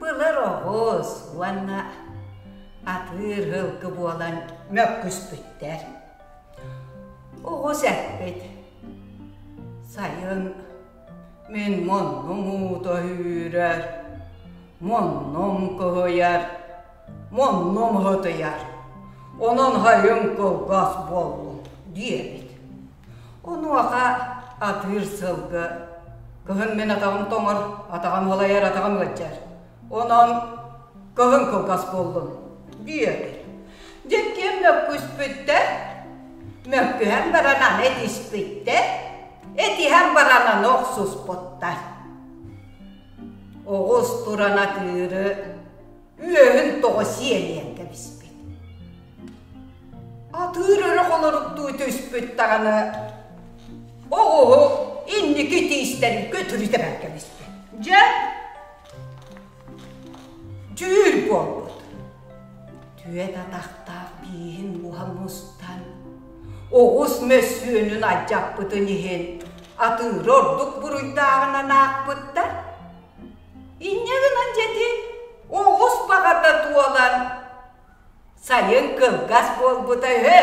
Былыр оҕус уонна атыыр һылгы буолан мөккүспүттэр. Оҕус эппит: Сайын мин муннум уута үүрэр, муннум кыһыйар, муннум һытыйар, онон сайын кылгас буоллум, диэбит. Онуоха атыыр сылгы кыһын мин атаҕым тоҥор, атаҕым ылайар, атаҕым ыалдьар. Онон кыһын кылгас буоллун диэтэ. Дьэкиэм мөккүспүттэр, мөккүһэн баран аны этиспиттэр, этиһэн баран аны охсуспуттар. Оҕус туран атыыры үөһүн тоҕо сиэлийэн кэбиспит атыыр өрө холоруктуу түспүт даҕаны оҕуһу инники тиистэрин көтүрүтэ бар кэбиспит дьэ дьүүл буолбут түөт атахтаах бииһин буһа мустан оҕус мөссүөнүн алдьаппытын иһин атыыры ордук буруйдааҕынан аахпыттар Инньэ гынан дьэти оҕус баҕата туолан сайын кылгас буолбута үһү